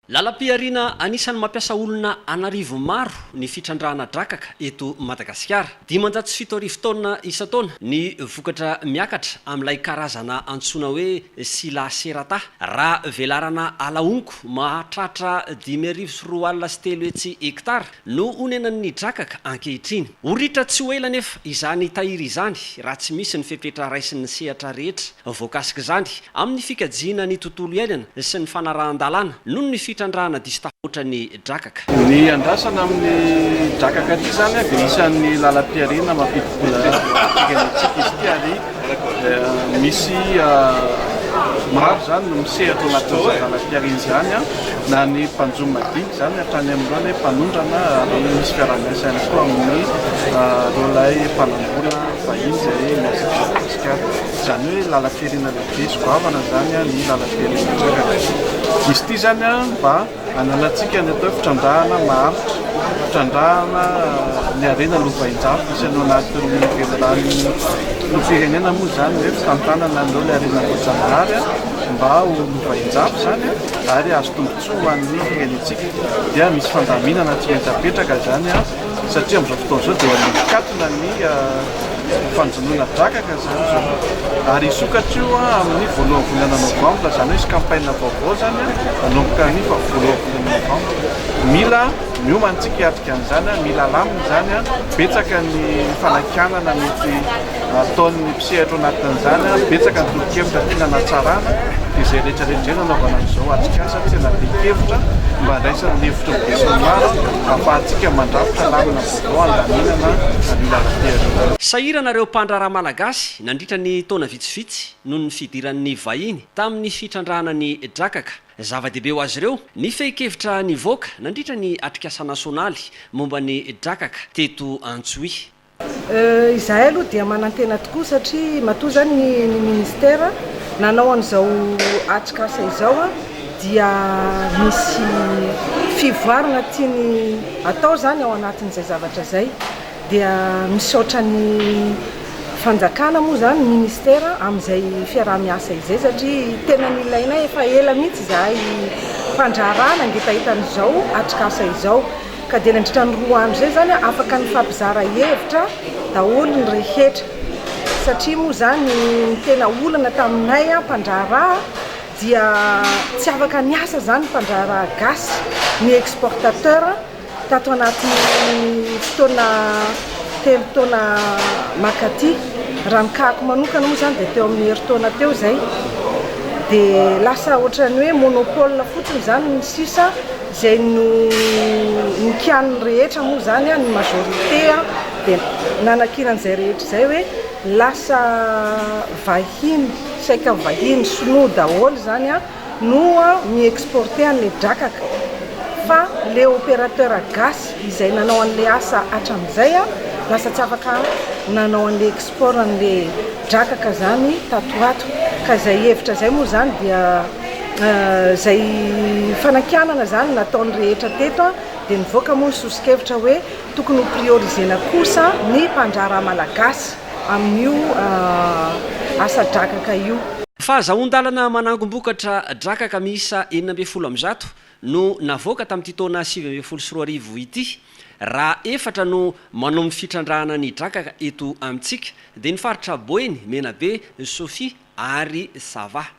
Lalam-pihariana anisan'ny mampiasa olona an'arivo maro ny fitrandrahana drakaka eto Madagasikara. Dimanjato sy fito arivo taonina isan-taona ny vokatra miakatra amin'ilay karazana antsoina hoe Scilla serrata, raha velarana ala honko mahatratra dimy arivo sy roa alina sy telo hetsy hektara, no onenan'ny drakaka ankehitriny. Ho ritra tsy ho ela anefa izany tahiry izany raha tsy misy ny fepetra raisin'ny sehatra rehetra voakasik'izany amin'ny fikajiana ny tontolo iainana sy ny fanarahan-dalàna noho ny fitrandrahana diso tafahoatra ny drakaka. Ny andrasana amin'ny drakaka ity izany dia isan'ny lalam-pihariana mampidi-bola eken'ny tsika izy ity ary Misy maro izany no misehatra ao anatin'ny zazalahipiarena izany an, na ny mpanjono madinika izany hatrany amin'ireo ny mpanondrana ary misy fiaraha-miasa ihany koa amin'ireo lahy mpanam-bola vahiny izay miasa eto Madagasikara. Izany hoe lalam-pirenena lehibe sy goavana izany ny lalam-pirenena Antsakaviro. Izy ity izany an mba. Ananantsika ny atao hoe fitrandrahana maharitra, fitrandrahana ny harena lovain-jafy misy any anatin'ny velirano filoham-pirenena moa izany hoe fitantanana an'ireo ilay harena voajanahary mba ho lovain-jafy izany ary hahazo tombontsoa ho an'ny firenentsika dia misy fandaminana tsy maintsy apetraka izany satria amin'izao fotoana izao dia mikatona ny fanjonoana drakaka izany izao ary hisokatra io amin'ny voalohan'ny volana novambra izany hoe hisy campagne vaovao izany manomboka ny voalohan'ny volana novambra mila miomana isika hiatrika an'izany mila alamina izany betsaka ny fanakianana mety Ataon'ny mpisehatra ao anatin'izany ary betsaka ny tolo-kevitra tiana hanatsarana dia izay rehetra rehetra izay no anaovana an'izao atrikasa tsy hanadin-kevitra mba handraisana ny hevitry ny besinimaro hahafahantsika mandrafitra lamina vaovao handaminana an'io lalam-be an'io lalao Sahirana ireo mpandraharaha malagasy nandritra ny taona vitsivitsy noho ny fidiran'ny vahiny tamin'ny fitrandrahana ny drakaka. Zava-dehibe ho azy ireo ny fehin-kevitra nivoaka nandritra ny atrikasa nasionaly momba ny drakaka teto Antsohihy. Izahay aloha dia manantena tokoa satria matoa izany ny ny ministera nanao an'izao atrikasa izao dia misy fivoarana tiany atao izany ao anatin'izay zavatra izay dia misaotra ny fanjakana moa izany ny ministera amin'izay fiaraha-miasa izay satria tena nilaina efa ela mihitsy izahay mpandraharaha nangitahita an'izao atrikasa izao. Ka dia nandritra ny roa andro izay izany afaka nifampizara hevitra daholo ny rehetra. Satria moa izany ny tena olana taminay mpandraharaha dia tsy afaka niasa izany mpandraharaha gasy, ny exportateur tato anatin'ny fotoana telo taona makaty. Raha ny kahako manokana moa izany dia teo amin'ny herintaona teo izay dia lasa ohatran'ny hoe monopole fotsiny izany ny sisa. Izay no nikianin'ny rehetra moa izany, ny majorité dia nanakiana an'izay rehetra izay hoe lasa vahiny, saika vahiny sinoa daholo izany no mi-exporter an'ilay drakaka. Fa ilay opérateur gasy izay nanao an'ilay asa hatramin'izay, lasa tsy afaka nanao an'ilay export an'ilay drakaka izany tato ho ato. Ka izay hevitra izay moa izany dia. Izay fanakianana izany nataon'ny rehetra teto dia nivoaka moa ny soso-kevitra hoe tokony ho prioriser-na kosa ny mpandraharaha malagasy amin'io asa drakaka io. Fahazahoan-dalana manangom-bokatra drakaka miisa enina ambin'ny folo amby zato no navoaka tamin'ity taona sivy ambin'ny folo sy roa arivo ity. Raha efatra no manao ny fitrandrahana ny drakaka eto amintsika dia ny faritra Boeny, Menabe, Sofia ary Sava.